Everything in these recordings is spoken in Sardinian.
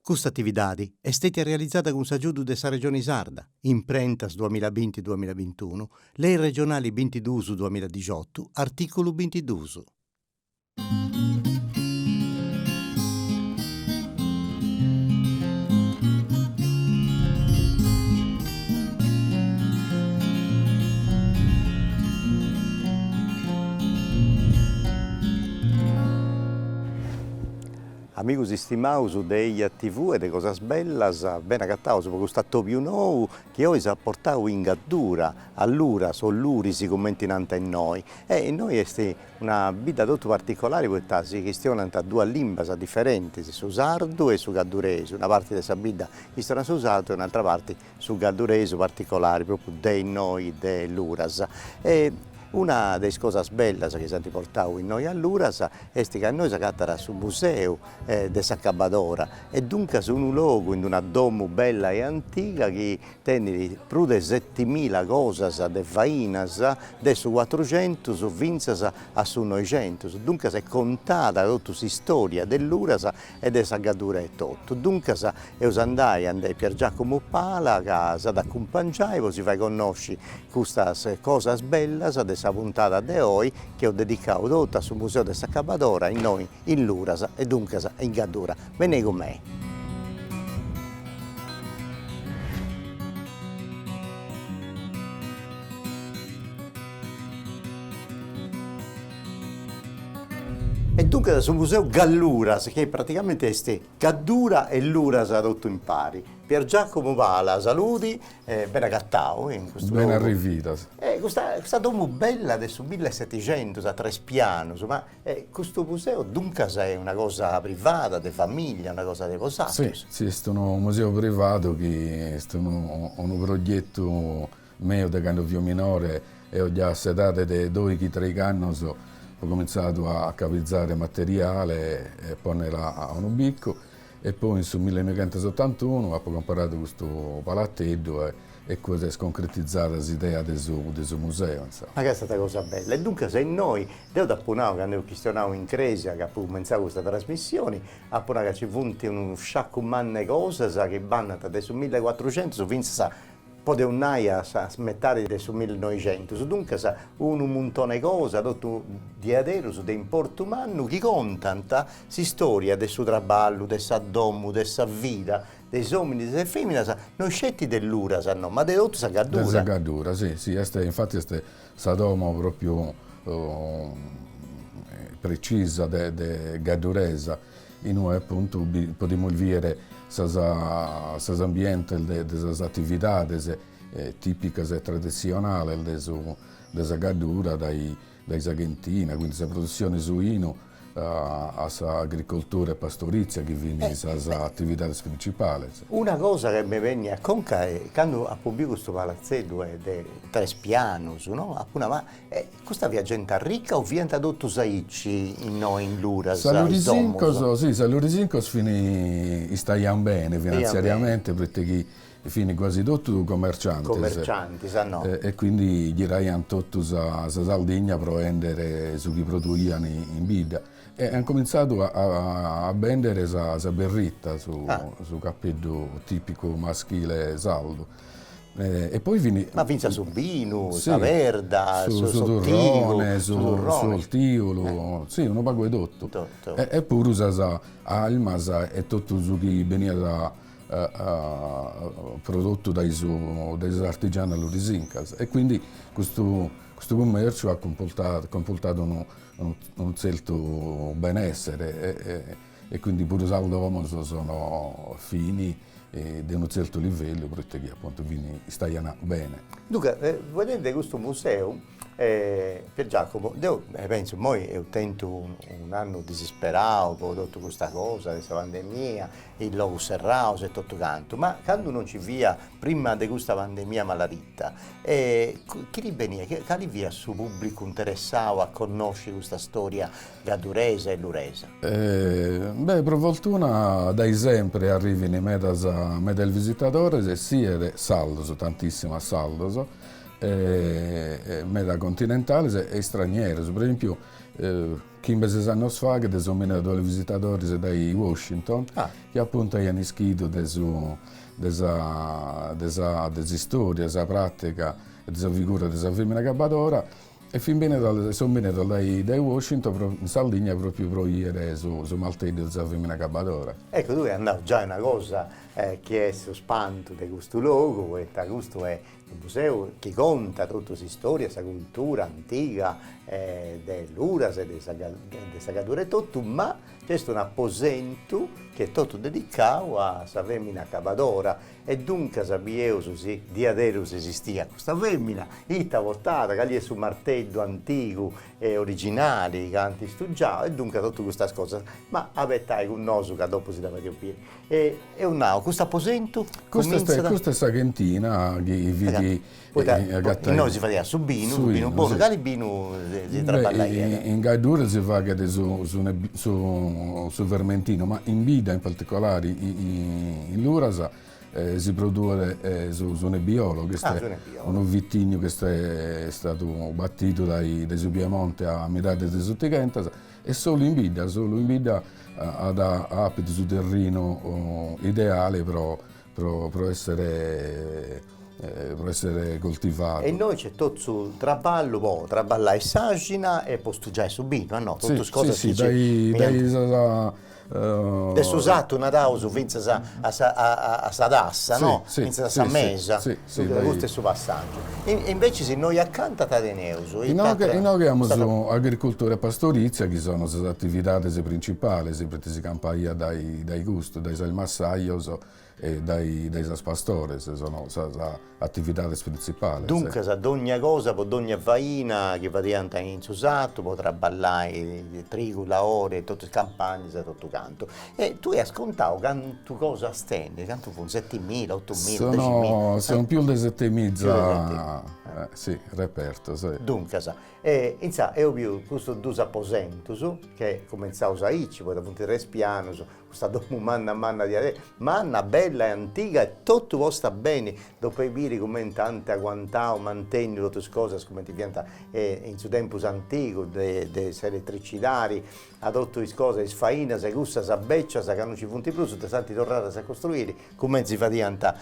Custa atividadi est stètia realizada cun s'agiudu de sa Regioni Sarda, Imprentas duamilla binti, duamilla bintunu, Lei Regionali bintiduus duamilla dixotu, artìculu bintiduus. Amigus istimaus de eia TV e de cosas bellas, bene agataus po custu atobiu nou chi oi si at portau in gaddura, a Luras o Luris cumenti nant innoi, e innoi est una bidda totu particolari poita si chistionant duas limbas diferentis, su sardu e su gadduresu, una parti de sa bidda chistionat su sardu e un'atra parti su gadduresu particolari propriu de innoi de Luras e una de is cosas bellas chi si ant portau innoi a Luras est ca innoi s'agatat su museu de s'acabbadora e duncas unu logu in una domu bella e antiga chi tenit prus de setimila cosas de fainas de su cuatruxentus fintzas a su noixentus, duncas est contada totu s'istòria de Luras e de sa Gaddura etotu. Duncas eus a andai andei Pier Giacomo Pala ca s'at a acumpangiai po si fai connosci custas cosas bellas de sa puntada de oi chi eus dedicau totu a su Museu de s'Acabadora innoi in Luras e duncas in Gaddura. Benei cun mei. E duncas su museu Galluras, chi praticamente est Gaddura e Luras totu impari. Pier Giacomo Pala, saludi e bene agatau in custu logu. Bene arrividos. E custa custa domu bella de su millesetixentus a tres pianus, ma custu museu duncas est una cosa privada, de famiglia, una cosa de bosatrus? Si, si est unu museu privadu chi est unu unu progetu Meu de cando fio minore, eo già a s'edade de doighi treighi annos apo comintzadu a cabitzare materiale e a ponnere a unu biccu e poi in su millenoighentos setantunu apo comporadu custu palateddu e e cue s'est concretizada s'idea de su de su museu, insomma. Ma ca est stata cosa bella. E duncas innoi, deo t'apo nau cando eus chistionau in crèsia ca apu cumentzau custa trasmissioni, apo nau ca ci funt unu sciacu mannu 'e cosas chi bandant dae su millecuatruxentus fintzas a podeus nai a sa metadi de su millinoixentus, duncas unu muntoni 'e cosa, totu diaderus de importu mannu chi contant s'istòria de su traballu, de sa domu, de sa vida, de is òminis e de is fèminas, no sceti de luras no, ma de totu sa Gaddura. De sa Gaddura, si, si, est, infati est sa domo pròpriu precisa de de gadduresa. In ue apuntu podimus bìere sos ambientes de sas atividades tìpicas e traditzionales de sa Gaddura, dae sa chentina, quindi sa produtzione 'e su 'inu, a s'agricoltura e pastorìtzia chi fin sas atividades printzipales. Una cosa chi mi benit a conca est, candu apo biu custu palatzeddu de tres pianus, no, apo nau, ma Custa fiat genti arrica o fiant totus aici innoi in Luras, is domus? Sas lurisincos, si, sas lurisincos fin, istaiant bene finanziariamente proite chi fin quasi totu commerciantes. Commerciantis, ah no. E quindi giraiant totu sa Sardigna pro 'endere su chi produian in bidda. E ant comintzadu a bendere sa berritta, su cappeddu tipicu maschile sardu. e poi fin. Ma finzas su binu, sa perda, su su turrone, su s'ortiulu, si unu pagu 'e totu, e puru sas armas e totu su chi beniat prodotu dae su dae sas artigianos lurisincas e quindi custu custu cummerciu at cumpurtadu unu tzertu benessere E quindi puru sas domos sono fini de unu zertu livellu proite chi appuntu fini istaiana bene. Duncas, fueddendi de custu museu, Pier Giacomo, deu pentzu, immoi eus tentu un'annu disisperau po totu custa cosa de sa pandemia, is logus serraus e totu cantu, ma candu non nci fia prima de custa pandemia maladita, chini beniat, cali fiat su pubblicu interessau a connosci custa storia Gadduresa e Luresa. Beh, pro fortuna dae sempre arrivin medas medas visitadores e siet sardos, tantissimas sardos, meda continentales e istranieros, pro esempio chimbe ses annos faghet son bènnidas duos visitadores dae Washington chi appuntu aian ischidu de su de sa de sa de s'istoria, de sa pratica e de sa figura de sa femina agabbadora E fin benidas, e son benidas dae Washington pro in Sardigna pròpiu pro 'ìere su marteddu de sa fèmina acabadora. Ecco, tui as nau già una cosa chi est su spantu de custu logu poita custu est unu museu chi contat totu s'istória e sa cultura antiga de Luras e de sa Gaddura etotu, ma nc'est un'aposentu chi est totu dedicau a sa fèmina acabadora E duncas bieus si diaderus esistiat custa fèmina, ita portat, cali est su marteddu antigu e originali chi ant istugiau e duncas totus custas cosas. Ma abetai cun nosu ca dopu si dda fadeus biri. E eus nau, cust'aposentu cumintzat. Custa est sa chentina chi fit Poita innoi si fadiat su binu, su binu bonu, cali binu si traballaiat? In Gaddura si faghet su fermentinu, ma in bidda in particolare in Luras si produit su nebbiolo chi est unu vitignu chi est istadu batidu dae su Piemonte a midade de s'otighentas e solu in bidda, solu in bidda at apidu su terrinu ideale pro pro essere pro essere coltivadu. E innoi c'est totu su traballu po traballai s'axina e po stugiai su binu, no, totus cosas chi dae su sartu naraus fintzas a sa tassa no, fintzas a sa mesa Custu est su passàgiu. Imbecis innoi acanta ita teneus? Inoghe amus agricultura e pastorizia chi sono sas atividades principales proite si campaiat dae custu, dae sas massajos e dae sas pastores, sono sas atividades principales. Duncas dogna cosa pro dogna faina chi fadiant in su sartu pro traballai trigu, laore e totu is campagnas e totu cantu. E tui as contau cantu cosas tenis, cantu funt, setimila, otumila, deximila. Sono sono pius de setemiza, sì, repertos. Duncas e insaras eo biu custus dus aposentus che cumentzaus aici, poita funt tres pianus, custa domu manna manna diaderus, manna, bella e antiga e totu posta beni, dopu 'e biri cumenti ant aguantau, mantènniu totus is cosas cumenti fiant in su tempus antigu de de s'eletricidadi a totu is cosas, is fainas e cussas bècias ca no nci funt prus, ddas ant torradas a costruiri cumenti si fadiant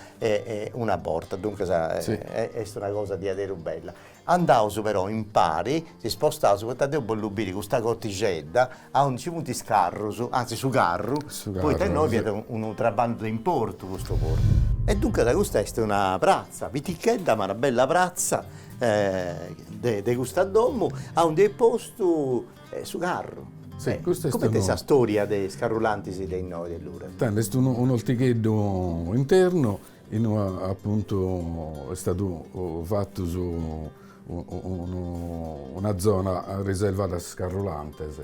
una borta, duncas est una cosa diaderus bella. Andaus però impari, si spostaus poita deu bollu biri custa cortixedda aundi nci funt is carrus, antzis su carru, poita innoi fiat unu traballu de importu custu puru. E duncas custa est una pratza pitichedda ma una bella pratza de custa domu aundi est postu su carru. Sì, custu est unu. Coment'est sa storia de is carrulantis de innoi de Luras? Tando, est unu un'ortigheddu internu inue apuntu est stadu fatu su unu una zona riservada a sas carrulantes,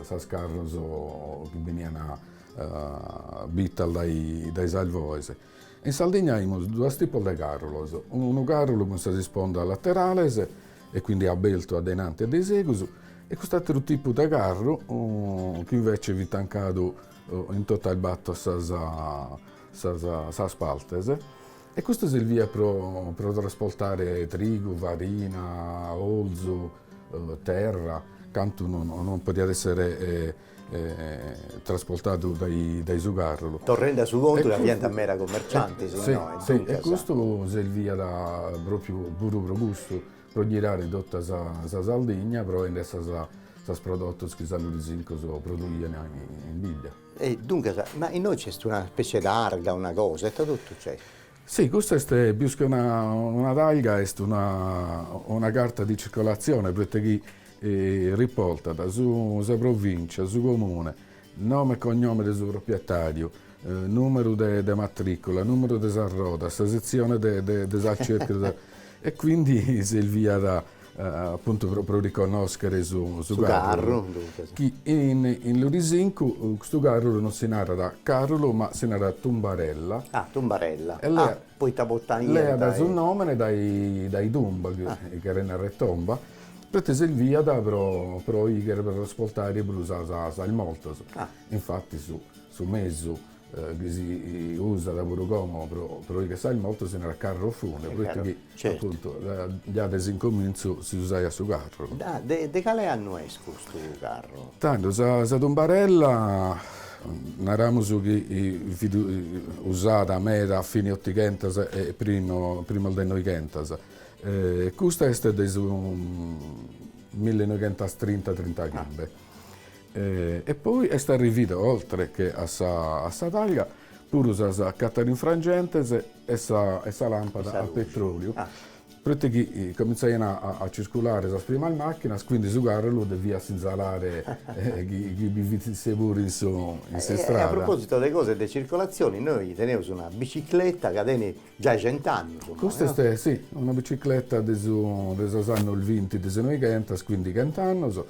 sas carros chi benian bitas dae dae sas bois In Sardigna aimus duos tipos de càrrulos, unu càrrulu cun sas ispondas laterales e quindi abertu a de innanti e de in segus e cust'àteru tipu de carru chi invece fit tancadu in totas bator sas sas sas partes e custu serviat pro pro trasportare trigu, farina, orzu, terra, cantu non non podiat essere trasportadu dae su carrulu. Torrende a su contu a bi aiat meda commerciantes innoe, duncas. E custu serviat pròpiu puru pro custu, pro ghirare tota sa Sardigna pro 'endere sos prodotos chi sos lurisincos produian in bidda. E duncas, ma innoe nc'est una spècie d'arga, una cosa, ita totu nc'est? Si, custa est pius che una talga, est una carta di circolatzione, proite chi riportat sa provìncia, su comune, nome e cognome de su propietàriu, nùmeru de matrìcula, nùmeru de sas rodas, sa setzione de sas cercas e quindi serviat Apuntu pro pro riconnòschere su su carru, chi in in Lurisincu custu carrulu non si narat carrulu ma si narat tumbarella, poita leadu su nomene dae dae tumba, chi cheret narrer tomba, proite serviat pro pro 'ighere, pro trasportare prus sos mortos, infatis su mesu chi si usat puru como pro 'ighere sos mortos si narat carro funebre proite chi appuntu già de s'incomintzu si usaiat su carru. De cale annu est custu carru? Tando sa tumbarella naramus chi fit usada meda a fine otighentas e primo primos de noighentas e custa est de su millenoighentastrinta trintaghimbe E poi est arrivida oltre che a sa a sa targa puru sas catarinfrangentes e sa e sa làmpada a petròliu, proite chi comintzaian a circulare sas primas màchinas, quindi su càrrulu deviat sinzalare chi chi bi fit isse puru in su in s'istrada. E a propositu de cosas de circolatzioni, nois teneus una bicicletta ca tenit giai cent'annus ommai. Custa est, si, una bicicletta de su de sos annos vinti de su noighentas, quindi chent'annos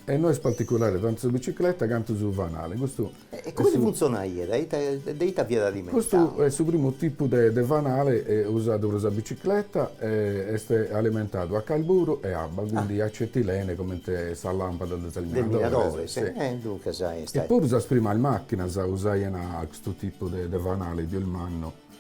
E no est particulare tantu sa bicicleta cantu su fanale. Custu E comente funtzonaiat? A ita de ita fiat alimentadu? Custu est su primu tipu de de fanale usadu pro sa bicicleta e est alimentadu a carburu e abba quindi acetilene comente sas lampadas de sos minadores. De minadores, e duncas est. E puru sas primas màchinas usaian custu tipu de de fanale pius mannu.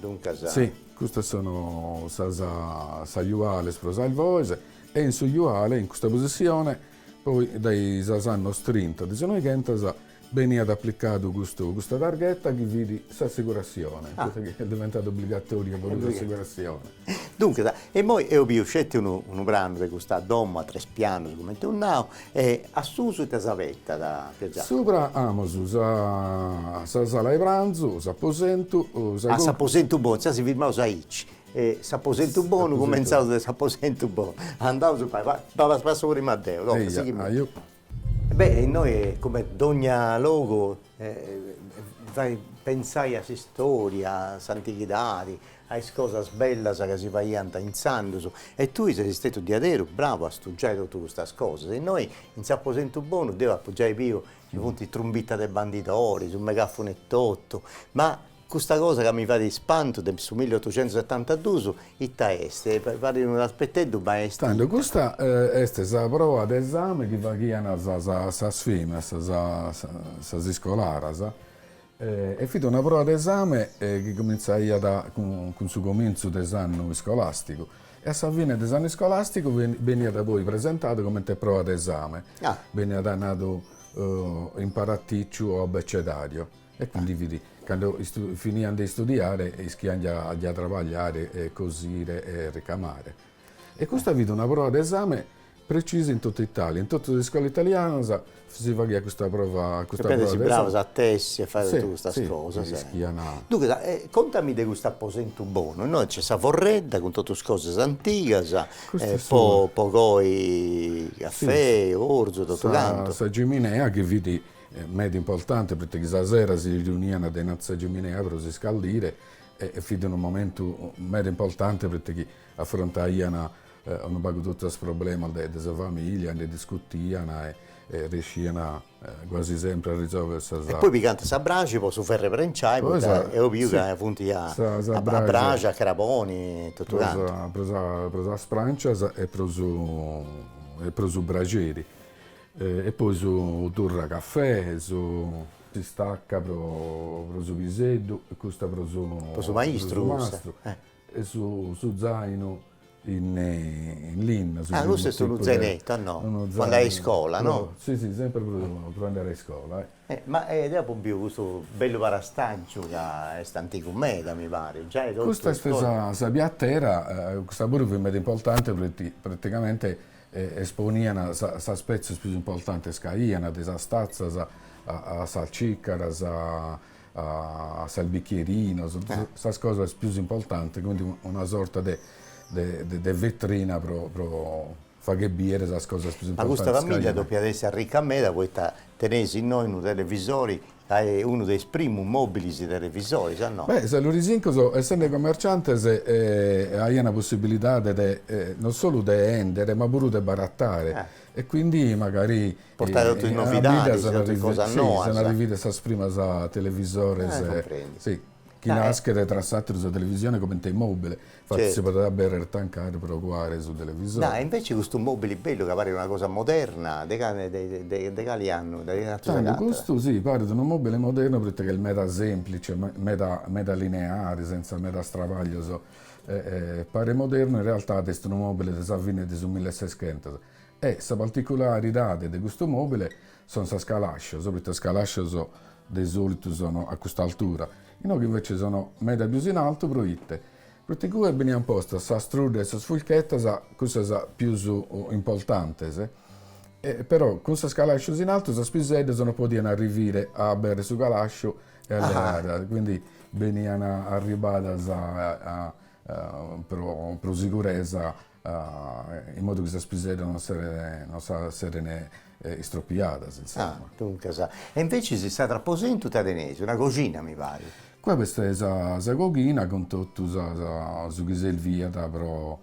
Duncas. Si, custas sono sos sos juales pro sos voes e in su juale, in custa posissione, poi dae sos annos trinta de su noighentas beniat aplicadu custu custa targhetta chi fit s'assicurassione, custa chi est diventada obbligatoria puru s'assicurassione. Duncas, e immoi eo biu sceti unu unu pranu de custa domo a tres pianos cumenti eus nau e a susu ite si abetat, Pier Giacomo? Subra amus sa sa sala 'e pranzu, s'aposentu, sa Ah s'aposentu bonu, insaras si firmaus aici, e s'aposentu bonu, cumentzaus de s'aposentu bonu, andaus, passo passo prima deo, tocat, sighi imoi. Beh e innoi come dogna logu faghet pensai a s'istoria, a s'antighidadi, a is cosas bellas ca si faiant intzandus e tui ses istetu diaderu bravu a stugiai totu custas cosas. Innoi in s'aposentu bonu deu apu giai biu chi funt trumbitas de bandidori, su megafunu etotu, ma Custa cosa ca mi fadet ispantu de su milliotocentusetantadus ita est? Parit unu raspeteddu ma est. Tando custa est sa proa de esame chi faghian sas feminas, sas iscolaras, e fit una proa de esame chi comintzaiat cun su comintzu de s'annu iscolasticu e a sa fine de s'annu iscolasticu beniat poi presentadu comente proa de esame, beniat nadu imparaticiu o abecedariu. E quindi fit cando finian de istudiare e ischian già trabagliare, cosire e ricamare. E custa fit una prova de esame precisa in totu Italia, in totus is iscolas italianas si faghiat custa prova custa prova de esame. E depis si bravas a tessi e fai totu custas cosas. Si, si, ischian. Duncas, contami de custu aposentu bonu, innoi nc'est sa forredda cun totu is cosas antigas po po coi cafè, orzu e totu cantu. Sa ciminea chi fit meda importante poita chi sa sera si riuniana de innantis sa giminea pro s'iscaldire e fit unu momentu meda importante poita chi afrontaiana unu pagu totu is problemas de de sa familia e ndi discutiana e e riesciana quasi sempri a risolvere sa sa. E poi pigant sa braxi po su ferre prenciai poita eo biu ca funt a a braxi a craboni totu cantu. Pro sa pro sas prancias e pro su e pro su braxeri E poi su turra cafè, su pistacca pro su piseddu e custa pro su mastru e su zainu in linna, su zainu tipu de, unu zainettu a no, po andai a iscola no? Si si semper pro andai a iscola. Ma deo apo biu custu bellu parastaggiu ca est antigu meda mi parit, giai totu. Custa est sa piattera, custa puru fit meda importanti proite praticamente e esponian sas petzos pius importantes ca aian, de sas tatzas a sas cicaras a sas bicchierinos, sas cosas pius importantes, quindi una sorta de de vetrina pro pro fagher bider sas cosas pius importantes ca aian. Ma custa famìllia depiat essi arrica meda poita teneis innoi unu televisori Est unu de is primus mòbilis de televisoris, a no. Beh, sos Lurisincos, essende comerciantes, aiant possibilidade de non solu de 'èndere, ma puru de baratare. E quindi magari. Portare totus is novidadis, totus is cosas noas. Si, sunt arrividas sas primas televisores. Comprendi. Si. chi naschet tra s'àteru sa televisione comente mòbile, infati si podet aberer tancare pro cuare su televisore. Dai, invece custu mobili bellu ca paret una cosa moderna, de de cali annu? De cali annu s'agatat? Custu si, paret unu mobile modernu pro ite chi est meda semplice, meda meda lineare, senza medas trabaglios, paret modernu in realtade est unu mobile de sa fine de su mille e seschentos e sa particularidade de custu mobile son sas calascios, proite sas calascios De solitu sono a custa altura. Inoghe invece sono meda pius in altu pro ite? Pro ite cue benian postas sas truddas e sas furchetas, cussas pius importantes, e però cun sas calascios in altu sas piseddas non podian arrivire a abèrrere su calasciu e a leare, quindi benian arribadas pro siguresa in modu chi sas piseddas non seren non sa seren istropiadas insomma. Ah duncas, e invece s'atr'aposentu ite teneis? Una coxina mi parit. Qua b'est sa sa coghina cun totu sa sa su chi serviat pro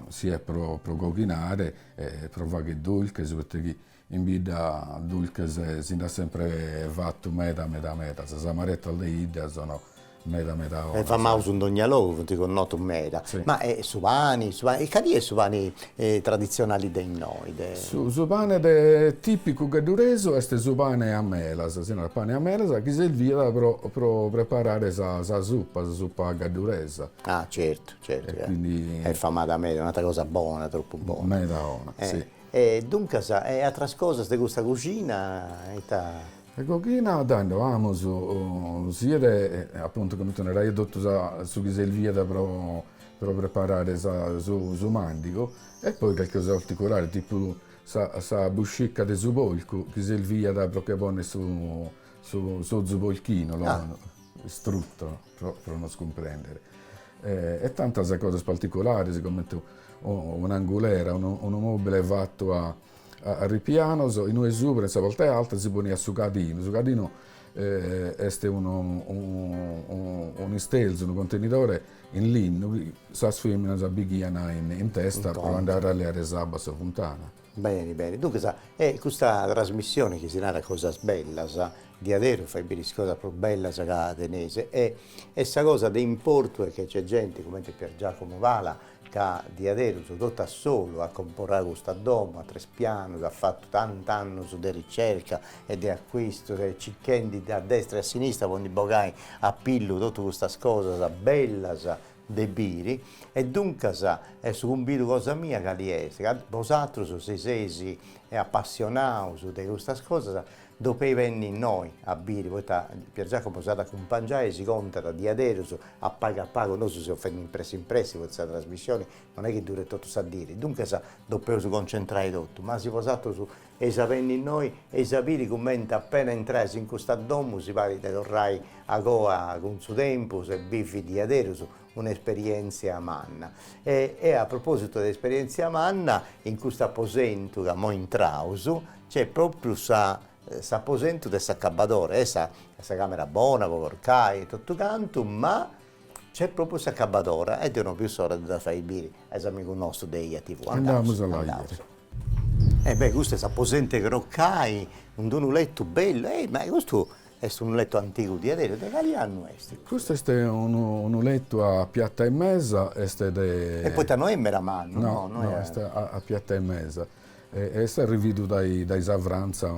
siat pro pro coghinare e pro fagher dulches, poita chi In bidda dulches si nd'at sempre fatu meda meda meda, sas amaretas de 'idda sono meda meda 'onas. E famaus in dogna logu, funt connotus meda. Ma e su pani, su pani, cali est su pani traditzionali de innoi de. Su pane de tipicu gadduresu est su pane a melas, si narat pane a melas, chi serviat pro pro preparare sa sa suppa, sa suppa gadduresa. Ah certu certu, est famada meda, un'atra cosa bona, tropu bona. Meda 'ona, si E duncas, e atras cosas de custa coxina ita. In coghina tando amus, siat apuntu comente naraia totu sa su chi serviat pro pro preparare sa su su màndigu e poi calchi cosa particulare tipu sa sa buscica de su polcu chi serviat pro che ponner su su s'ozu polchinu lo strutto pro nos cumprèndere. E tantas cosas particulares, comente un'angulera, unu mòbile fatu a ripianos, in ue subra, in sa parte alta, si poniat su cadinu, su cadinu est un'istelzu, unu contenidore in linna chi sas fèminas bighian in testa pro andare a leare s'abba a sa funtana. Beni beni, duncas e custa trasmissione chi si narat Cosas bellas, diaderus fait biri is cosas prus bellas ca teneis e e sa cosa de importu est chi nc'est genti cumenti Pier Giacomo Pala ca diaderus totu a solu at comporau custa domo, at tres pianus, at fatu tant'annus de ricerca e de accuistus e circhendi a destra e a sinistra po ndi bogai a pillu totu custas cosas bellas de biri, e duncas est su cumbidu cosa mia cali est, ca bosatrus chi seis apassionaus de custas cosas dopei benni innoi a biri, poita Piergiacomo si at a acumpangiai, si contat diaderus, a pagu a pagu, nosu seus fendi in pressi in pressi, poita sa trasmissioni non est chi duret totu sa diri, duncas ddopeus concentrai totu, ma si bosatrus Eis a benni innoi, eis a biri cumenti appena intrais in custa domu si parit de torrai a coa cun su tempus e bivi diaderus un'esperientzia manna. E e a propositu de esperientzia manna, in custu aposentu ca moi intraus nc'est propriu sa s'aposentu de s'acabadora, custa camera bona po corcai e totu cantu, ma Nc'est pròpriu s'acabadora e deo no biu s'ora de ddas fai biri a is amigus nostus de eia TV. Andaus, andaus. E beh, custu est s'aposentu 'e crocai, cun unu letu bellu, ehi, ma custu est unu letu antigu diaderus, de cali annu est? Custu est unu unu letu a piatza e mesa, est de. E poita no est meda mannu, no, no, est a piatza e mesa. Est arrividu dae sa Frantza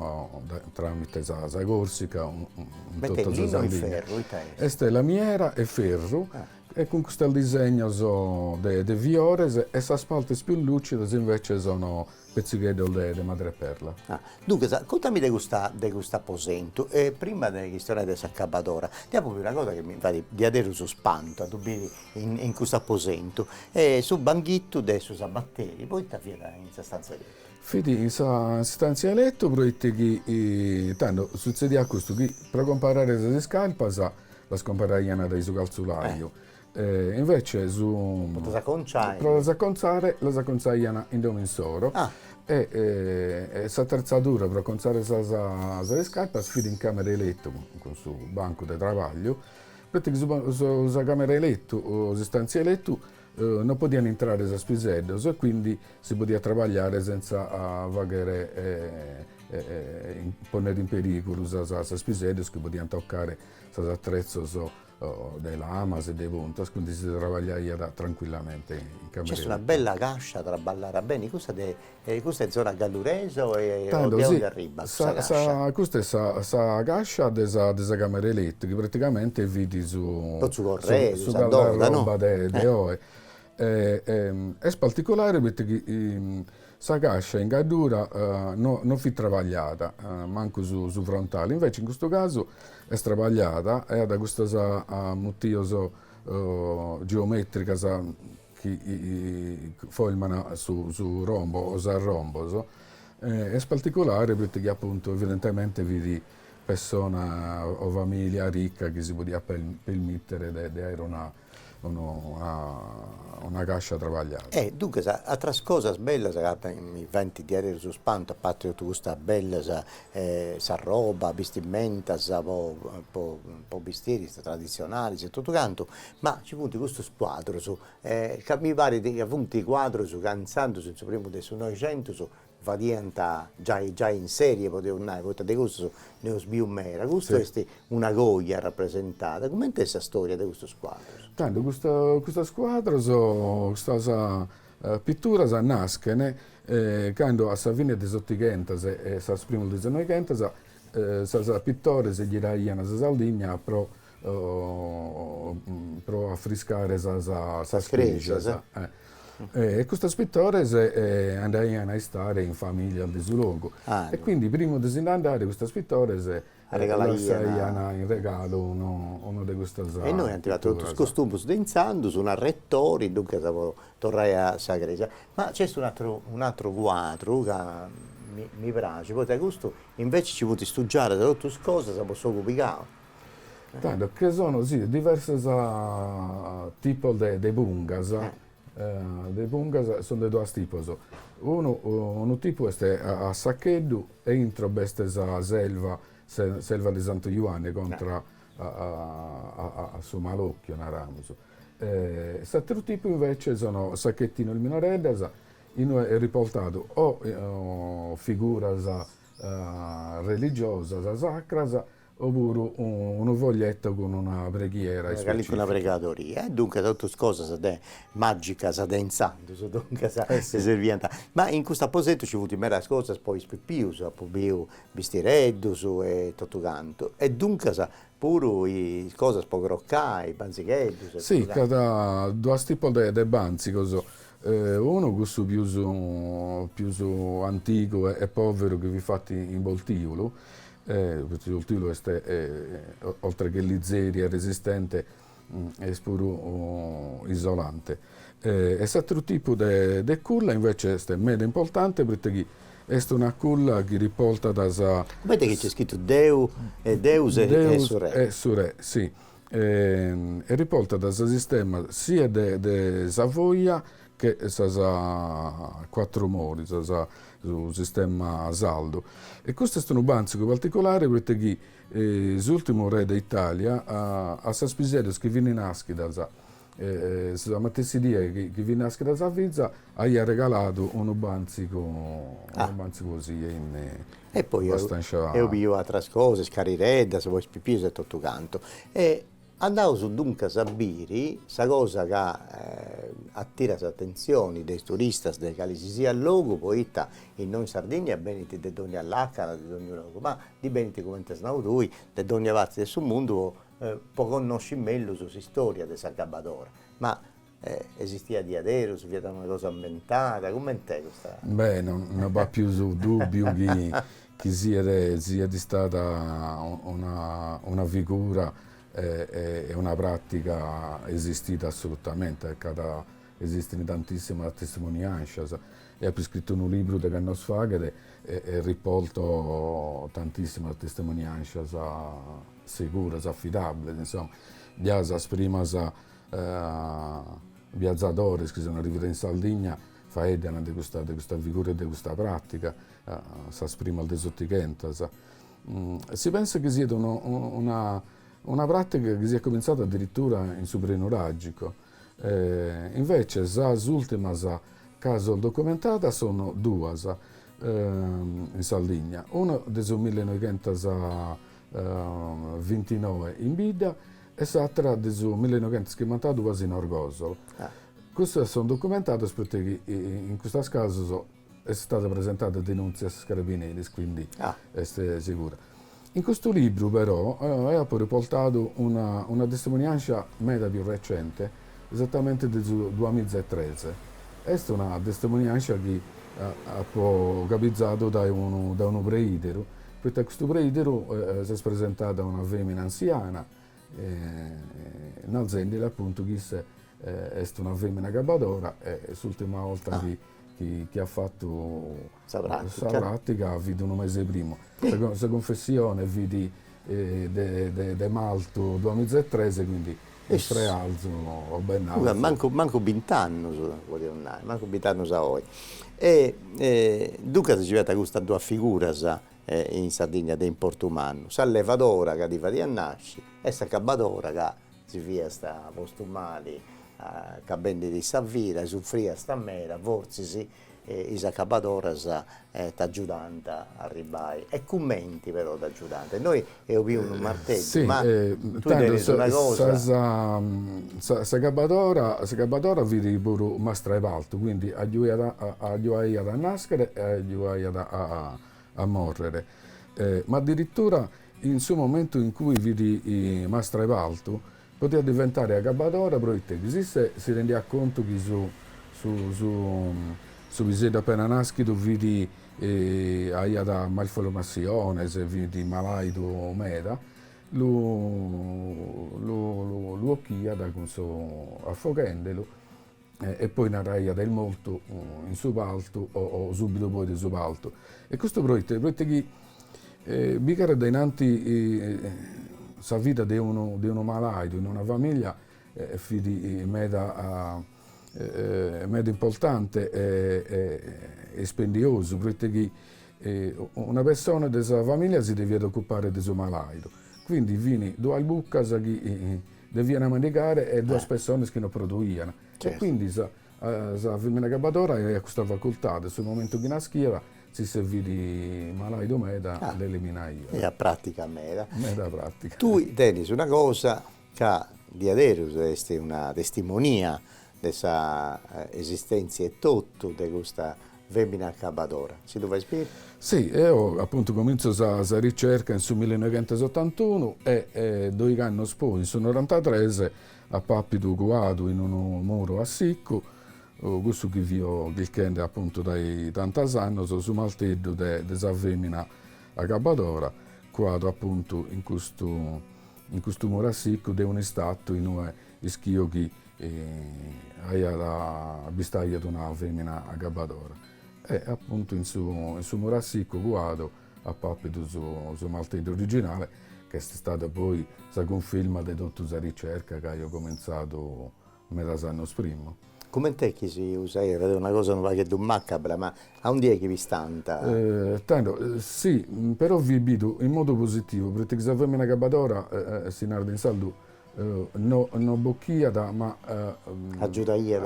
tràmite sa Còrsica in totu sa Sardigna. Est lamiera 'e ferru e cun custos disegnos de fiores e sas partes pius lùcidas invece sunu petzigheddos de madreperla. Duncas, contami de custa de custu aposentu e prima de chistionai de s'acabadora, deo apo biu una cosa chi mi fait diaderus spantu a ddu biri in custu aposentu est su banghitu de su sabateri poita fiat in sa stantzia de lettu? Fit in sa stantzia 'e lettu proite chi tando sutzediat custu chi pro comparare sas iscarpas las comparaian dae su calzulaju e invece su pro las aconciare pro las acontzare las acontzaian in domo insoro e s'atretzadura pro acontzare sas iscarpas fit in camera 'e lettu cun su bancu de trabagliu Proite chi sa camera 'e letu, s'istantzia 'e letu, no podian intrare sas piseddos e quindi si podiat trabagliare senza faghere ponnere in perigulu sas piseddos chi podian toccare sos attrezzos de lamas e de puntas, quindi si trabagliaiat tranquillamente in camera 'e letu. Cioè est una bella cascia traballara beni cussa de E custa est zona galluresa o est o de aundi arribbat sa cascia? Custa est sa sa cascia de sa de sa camera 'e letu chi praticamente fit su po su corredu, su guardarroba de de oi est particulare poita chi sa cascia in gaddura no no fit trabagliada mancu su su frontali, invece in custu casu est trabagliada e at custas mutivos geometricos chi forman su rombo o sas rombos, est particulare proite chi apuntu evidentemente fit pessona o familia ricca chi si podiat permittere de aer una cascia trabagliada. E duncas atteras cosas bellas ca mi faint diaderus su spantu a parte totu custas bellas sa roba, bistimentas po po po bistiris tradizionales e totu cantu Ma ci funt custus cuadrus, ca mi parit ca funt cuadrus ca intzandus, in su primu de su Noixentus, fadiant giai giai in serie, podeus nai, poita de custus nd'eus biu meda. Custu est una coja arrapresentada. Cumenti est sa storia de custus cuadrus? Tando, custas cuadros, custas pituras naschent cando a sa fine de s'otighentas e sas primos de sas noighentas sas pitores giraiant sa Sardigna pro pro afrescare sas cresias e custos pittores andaian a istare in familias de su logu e quindi prima de si nd'andare custos pittores lassaian in regalo unu de custas pitturas. E nois agataus totu is costumus de intzandus, un'arretori, duncas po torrai a sa crèsia. Ma nc'est un'atteru un'ateru cuadru ca mi mi praxit, poita custu invece nci funt istugiadas totu is cosas po s'ogu pigau Tando che sono sì diversos tipos de pungas, de pungas sono de duos tipos, unu unu tipu est a saccheddu e intro b'est sa s'elva, s'elva de Santu Juanne contra a su malocchiu naramus, s'ateru tipu invece sono sacchetinos minoreddas inue est riportadu o figuras religiosas sacras o puru unu foglietto cun una preghiera specifica. Calincuna pregadoria e duncas totu cosas magicas de intzandus duncas si serviant, ma in custu aposentu ci funt medas cosas po is pipius, apu biu bistireddus e totu cantu e duncas puru is cosas po crocai, banzigheddus e totu cantu. Sì, ch'at duas tipos de banzigos, unu cussu pius pius antigu e poveru chi fit fatu in boltiulu Proite su boltiulu est oltre che lizeri e resistente est puru isolante. E s'atteru tipu de culla invece est meda importante proite chi est una culla chi riportat sa. Comente chi nc'est scritu deu e deus e su re. E su re, sì, e riportat sa s'istemma sia de sa foglia che sas cuatru moris, su s'istemma sardu. E custu est unu bàntzigu particulare proite chi s'ùrtimu re de Itàlia a sas piseddas chi fini nàschidas, sa matessi die chi fit nàschida sa fiza, aiat regaladu unu bàntzigu unu bàntzigu 'osì e in abbastanza. E poi eo biu atras cosas, carireddas, po is pipius e totu cantu. E Andaus duncas a biri sa cosa ca atirat s'atentzioni de is turistas de calesisiat logu, poita innoi in Sardìnnia benint de dònnia làcana, de dònnia logu, ma ndi benint, cumenti as nau tui, de dònnia parti de su mundu po connosci mellus s'istòria de s'agabbadora. Ma E esistiat diaderus, fiat una cosa imbentada, coment'est custa? Beh, no no b'at pius dùbiu chi chi siat siat istada una una figura e e e una pràtiga esistida assolutamente e c'at esistin tantissimas testimoniàncias. Eo apu iscritu unu liburu degh'annos faghet e e riporto tantissimas testimoniàncias seguras, afidàbbeles, insoma, già sas primas biazadores chi sun arrividos in Sardigna faeddan de custa de custa figura e de custa pratiga sas primas de s'otighentas. Si pensat chi siat una una una pratiga chi siat cominzada addirittura in su Prenuragico. Invece sas ultimas casos documentadas sono duas in Sardigna, una de su millenoighentas vintinoe in bidda e s'àtera de su millenoighentas chimbantaduas in Orgosolo. Custas son documentadas poita chi in custas casos est istada presentada denùntzia a sos carabineris, quindi est segura. In custu libru però eo apo riportadu una testimoniàngia meda pius recente, Esattamente de su duamiza e tres. Est una testimoniàngia chi apo gabizadu dae unu dae unu preìderu, poita a custu preìderu s'est presentada una fèmina ansiana, narzendile apuntu chi issa est una fèmina agabbadora e s'ùrtima 'orta chi chi at fatu Sa pràtica. Sa pràtica fit unu mese primu. Sa cunfessione fit de martu duamiza e tres e quindi est frearzu o bennarzu. Mancu mancu bint'annus podiaus nai, mancu bint'annus a oi. E duncas nci fiant custas duas figuras in Sardigna de importu mannu, sa levadora ca ti fadiat nasci e s'acabadora ca si fiast postu mali acabendi sa vida e sufriast meda, fortzis E is acabadoras t'agiudant a arribbai? E cumenti però t'agiudant? Innoi eus biu unu marteddu, ma tui tenis una cosa. Sì, s'acabadora, s'acabadora fit puru mastra 'e partu, quindi agiuiat agiuaiat a naschere e agiuaiat a morrere. Ma addirittura in su momentu in cui fit mastra 'e partu, Potiat diventare agabadora pro ite chi si issa si rendiat contu chi su su piseddu appena naschidu fit aiat malformassiones e fit malaidu meda, lu lu 'occhiat cun su affoghendelu e poi naraiat est mortu in su paltu o subidu poi de su paltu. E custu proite? Proite chi bi gighere dae innanti sa vida de unu de unu malaidu in una familia fit meda meda importante e spendiosu, proite chi una persona de sa familia si deviat occupare de su malaidu, quindi fin duas buccas chi Devian mandigare duas pessones chi no produian. E quindi sa sa femmina agabbadora aiat custa facultade, su momentu chi naschiat, si issu fit malaidu meda l'eliminaiat. Aiat pratica meda. Meda pratica. Tui tenis una cosa ca diaderus est una testimonia de sa esistèntzia etotu de custa fèmina acabadora. Si dda fais biri? Si, eo apuntu comintzo sa sa ricerca in su millinoighentosottantunu e doigh'annos poi, in su norantatres, apo àpidu cuadu in unu muru a sicu, cussu chi fio chirchende apuntu dae tantos annos, su marteddu de de sa fèmina acabadora, cuadu apuntu in custu in custu muru a sicu de un'istatzu in ue ischio chi E aiat bistaiat una femina agabadora. E apuntu in su in su muru a sicu cuadu apo apidu su su marteddu originale, ch'est istada poi sa cunfirma de totu sa ricerca ch'aio comintzadu medas annos prima. Coment'est chi si usaiat, est una cosa unu pagheddu macabra, ma aundi est chi pistant? Tando, sì, però fit bidu in modu positivu, proite chi sa femina agabadora, si narat in sardu, No no bocchiat ma agiudaiat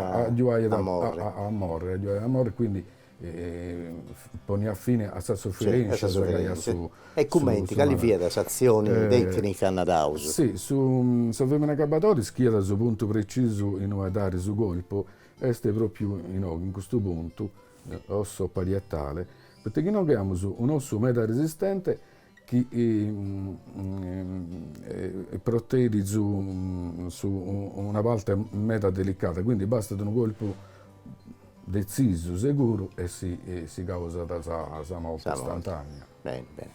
a morri a morri agiudaiat a morri quindi poniat fine a sas sufferenzias chi aiat su su e cumenti cali fiat s'azioni tecnica naraus si su sa femina acabbadora ischiat su puntu precisu in ue dare su colpo est propriu inoghe in custu puntu osso parietale poita chi inoghe amus un'ossu meda resistente chi protegit su una parte meda delicada, quindi bastat unu colpu detzisu, seguru e si si causat sa morte istantanea. Beni beni.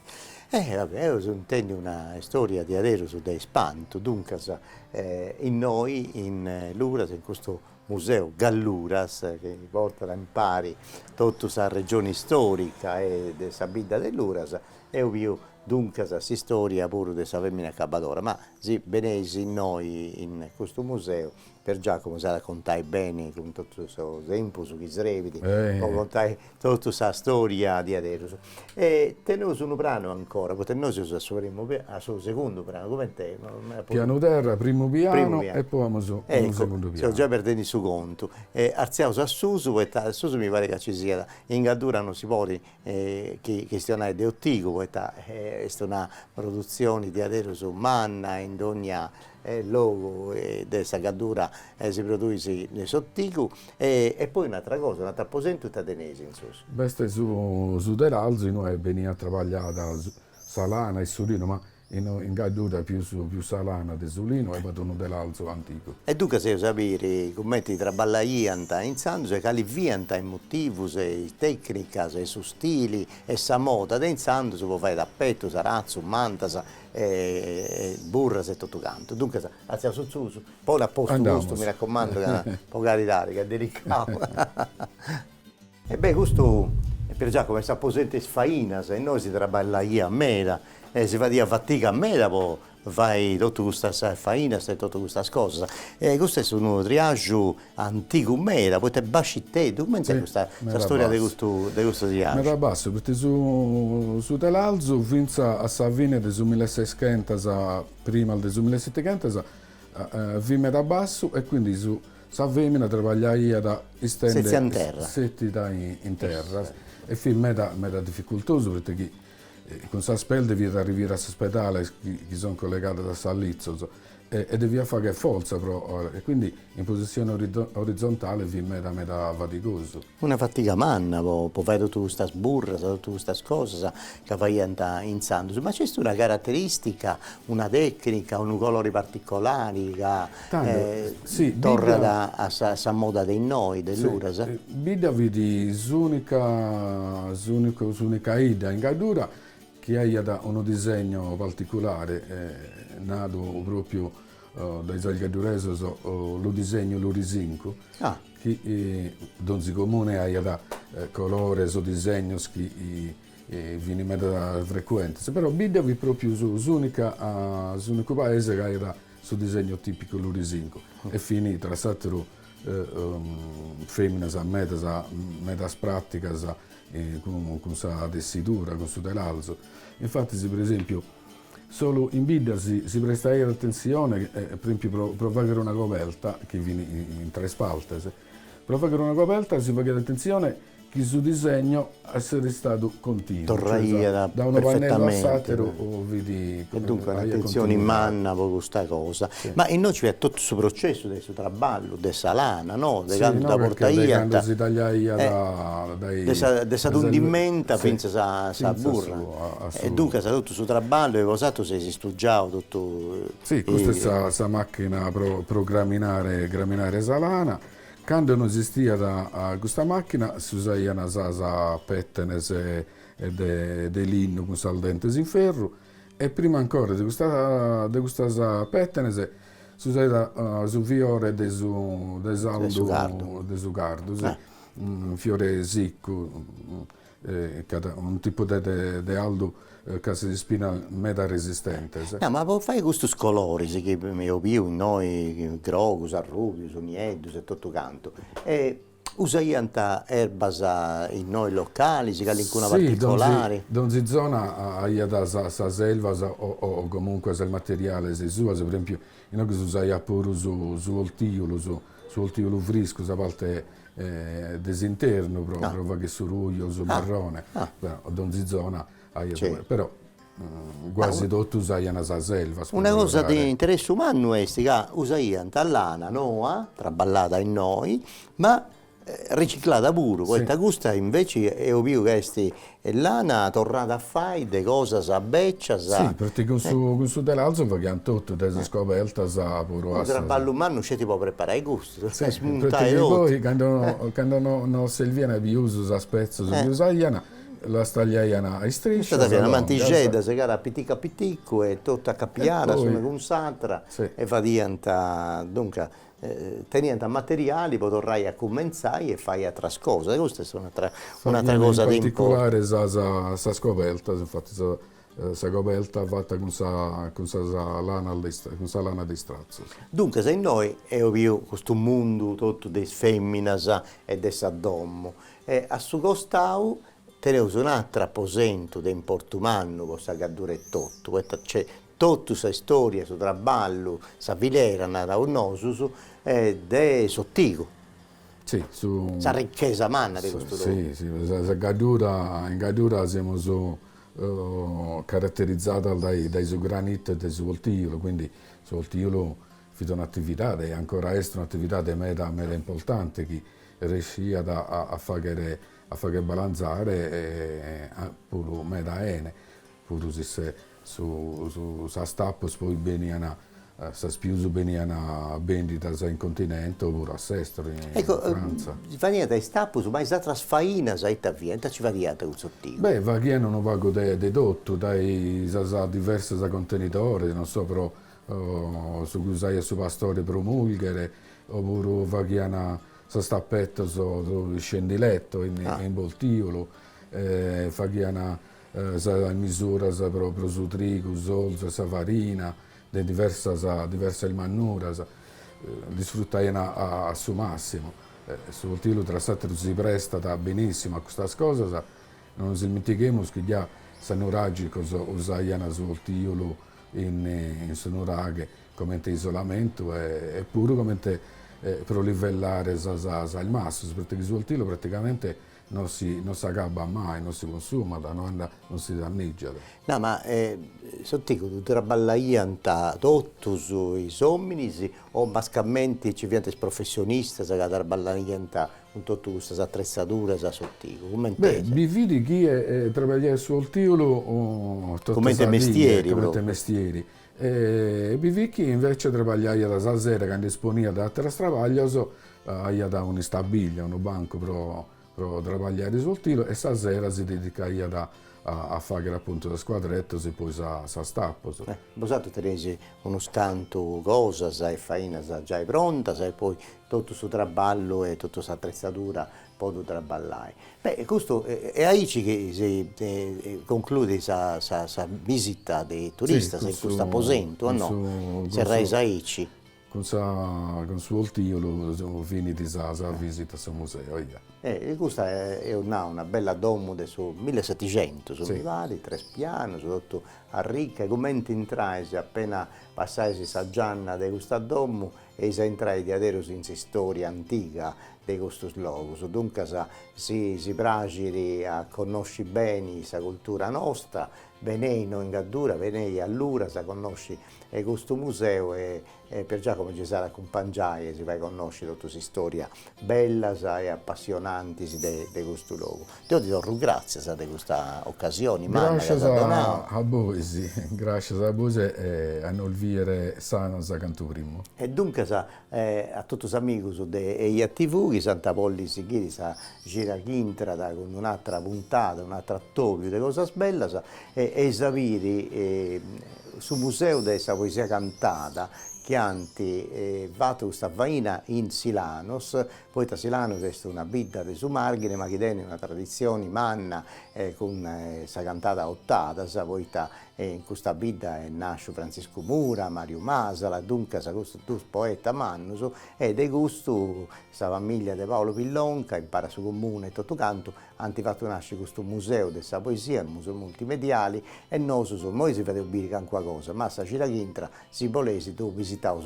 Eus intendiu una istoria diaderus de ispantu, duncas innoi in Luras in custu Museu Galluras, chi portat impari totu sa regioni istòrica e de sa bidda de Luras, eus biu duncas s'istòria puru de sa fèmina acabadora, ma si beneis innoi in custu museu Pier Giacomo s'at a contai beni cun totu su tempus chi srebit po contai Totu sa storia diaderus. E teneus unu pranu ancora, poita innoi seus a su primu a su segundu pranu, cumenti est? Pianu terra, primu pianu e poi amus unu segundu pianu. Eccu, seu giai perdendi su contu. E artziaus a susu, poita a susu mi parit ca nci siat, in Gaddura non si podit chi chistionai de otigu, poita est una produtzioni diaderus manna in dogna logu de sa Gaddura si produit s'otigu e poi un'atra cosa, un'atr'aposentu ita teneis in susu. B'est su telalzu inue beniat trabagliada sa lana e su linu ma in Gaddura pius pius sa lana de su linu e b'at unu telalzu antigu. E duncas eus a biri cumenti traballaiant intzandus e cali fiant is motivus e is tecnicas e su stili e sa moda de intzandus po fai tapetus, aratzus, mantas e burras e totu cantu, duncas atziaus a susu, poni a postu custu, mi raccomando ca po caridadi ca est delicau e beh custu Pier Giacomo est s'aposentu de is fainas e innoi si traballaiat meda e si fadiat fatiga meda po fai totu custas fainas e totu custas cosas e custu est unu triaxu Antigu meda, poita est basciteddu, cumenti est custa sa storia de custu de custu triaxu? Meda bassu, poita su su telalzu finza a sa fine de su milleseischentas primas de su millesetechentas fit meda bassu e quindi su sa femina trabagliaiat istende Setzia in terra. setida in terra e fit meda meda difficultosu poita chi cun sas pes deviat arrivire a sos pedales chi chi son collegadas a sas litzos e deviat fagher fortza pro or e quindi in posissione orizontale fit meda meda fadigosu. Una fatiga manna po po fai totu custas burras, totu custas cosas ca faiant intzandus, ma c'est una caratteristica, una tecnica, unu colori particolari ca torrat a sa sa moda de innoi, de Luras? Bidda fit s'unica s'unicu s'unica 'idda in Gaddura chi aiat unu disegno particulare, nadu pròpiu dae sos gadduresos lu disegnu lurisincu, chi donzi comune aiat colores o disegnos chi fini meda frecuentes, però Bidda fit pròpiu s'ùnica, s'ùnicu paese chi aiat su disegnu tìpicu lurisincu e fini tra s'àteru Feminas medas medas pratigas cun sa tessidura cun su telalzu infatis pro esempiu solu in bidda si prestaiat attenzione pro esempiu pro fagher una coberta chi fin in tres partes pro fagher una coberta si faghiat attenzione chi su disegno esseret istadu continu, cioè da unu pannellu a s'ateru vidis e duncas un'atenzioni manna po custa cosa, ma innoi ci at totu su processu de su traballu de sa lana no, de candu dda portaiant, de candu si tagliaiat dai de sa tundimenta fintzas a sa burra, e duncas totu su traballu e bosatrus eis istudiau totu, si custa est sa macchina pro graminare sa lana, Cando no esistiat custa màchina s'usaiant sas pètenes de linna cun sas dentes in ferru e prima ancora de custas pètenes s'usaiat su fiore de su de s'aldu de su cardu, fiore siccu Ch'at unu tipu de de aldu ch'at ispinas meda resistentes. Nau, ma po fai custus coloris chi eo biu innoi, grogus, arrubius, nieddus e totu cantu, usaiant erbas innoi localis, calincuna particolari? Si, donzi donzi zona aiat sas elvas o o comunque sas materiales suos, pro esempio inoghe s'usaiat puru su su oltiju, su Su oltiju friscu, sa parte de s'internu pro pro fagher su ruju o su marrone, donzi zona aiat, però guasi totu usaian sas elvas. Una cosa de interessu mannu est ca usaiant lana noa, traballada innoi, ma riciclada puru, poita custa invece eo biu ca est E lana torrada a fai de cosas becias. Si, poita cun su cun su telalzu faghiant totu, da sas cobertas a puru a sas. Unu traballu mannu sceti po preparai custu, smuntai totu. Poita chi poi cando no no servian pius sos petzos chi usaian, las tagliaian a istriscias. Custa fiat mantixedda segada a piticu a piticu e totu acapiada s'una cun s'atra e fadiant, duncas, teniant materiali po torrai a cumentzai e fai atras cosas e custa est un'atra un'atra cosa de in particulare sa sa sas cobertas, infattis sa sa coberta fata cun sa cun sas lanas de is cun sa lana de istratzos. Duncas innoi eo biu custu mundu totu de is feminas e de sa domo e a su costau teneus un'atru aposentu de importu mannu po sa Gaddura etotu poita nc'est Totu sa istòria, su traballu, sa filera, naraus nosus, de s'otigu, sa richesa manna de custu logu. Si, si, sa Gaddura, in Gaddura semus caraterizzadas dae su granitu e dae su oltiolu, quindi su oltiolu fit un'atividadi e ancora est un'atividadi meda meda importanti chi resciat a faghere a fagher balanzare puru meda 'ene. Puru si se sas tappus poi benian sas pius benian bendidas in continente o puru a s'estero in Frantza. Ecco, faghiant is tappus, ma is atras fainas ita fiant, ita ci faghiant cun s'otigu? Beh, faghian unu pagu de de totu, dae sas diversas contenidoris, non so, pro su chi usaiat su pastori pro mulghere, o puru faghian sas tappetos pro iscendiletos in in boltiolu, faghian sas misuras pro pro su trigu, s'orzu e sa farina de diversas diversas mannuras ndi sfruttaian a a su massimu. Su oltiolu tra s'ateru si prestat benissimu a custas cosas, non nos ismintighemus chi già sas nuragicos usaian su oltiolu in in su nuraghe comente isolamentu e e puru comente pro livellare sas sas massos, pro ite chi su oltiolu praticamente Non si non s'agabat mai, non si cunsumat, no andat, non si danneggiat. No, ma s'otigu traballaiant totus is ominis o mascamenti ci fiant is professionistas ca traballaiant cun totu custas attrezzaduras a s'otigu? Cumenti est? Beh, bi fit chie traballaiat su oltiolu totu sa die, comente mestieri. Bi fit chi invece trabagliaiat sa sera cando isponiat dae ateras trabaglios, aiat un'istabìllia, unu bancu pro pro trabagliare su oltiolu e sa sera si dedicaiat a fagher appuntu sas cuadretos e poi sa sas tapos. Bosatrus teneis unos cantu cosas e fainas giai prontas e poi totu su traballu e totu s'attrezzadura Po ddu traballai. Beh e custu est aici chi si concludit sa sa sa visita de is turistas in custu aposentu o no? Serrais aici. Cun sa cun su oltiolu finit sa sa visita a su museu eia. E custa eus nau una bella domu de su millesetixentus mi parit, tres pianus, totu arrica e cumenti intrais appena passais sa gianna de custa domu eis a intrai diaderus in s'istoria antiga de custus logus, duncas si si praxit a connosci beni sa cultura nosta, benei in Gaddura, benei a Luras a connosci custu museu e e Pier Giacomo chi s'at a acumpangiai e si fai connosci totu is istòrias bellas e apassionantis de de custu logu Deo ti torru gràtzias de custa ocasioni manna chi as donau. Gràscias a bois, gràscias a bois e a nos bìdere sanos cantu primu. E duncas a totus is amigus de Eja TV chi s'ant a podi sighiri sa cida chi intrat cun un'atra puntada, un'atru atòbiu de cosas bellas eis a biri su museu de sa poesia cantada chi ant fatu custa faina in Silanos Poita Silanus est una bidda de su Marghine ma chi tenit una traditzioni manna cun sa cantada a otadas poita in custa bidda est nàsciu Frantziscu Mura, Mariu Masala, duncas custus duus poetas mannus e de custu sa famìllia de Paolo Pillonca impari a su comunu e totu cantu ant fatu nàsci custu Museu de sa Poesia, unu museu multimediali e nosus imoi si fadeus biri cancuna cosa ma sa cida chi intrat si boleis du visitaus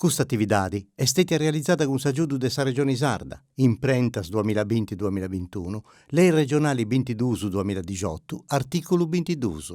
Custa atividadi est stètia realizada cun s'agiudu de sa Regioni Sarda, imprentas duamilla binti duamilla bintunu, Lei Regionali bintiduus duamilla dixotu, artìculu bintiduus.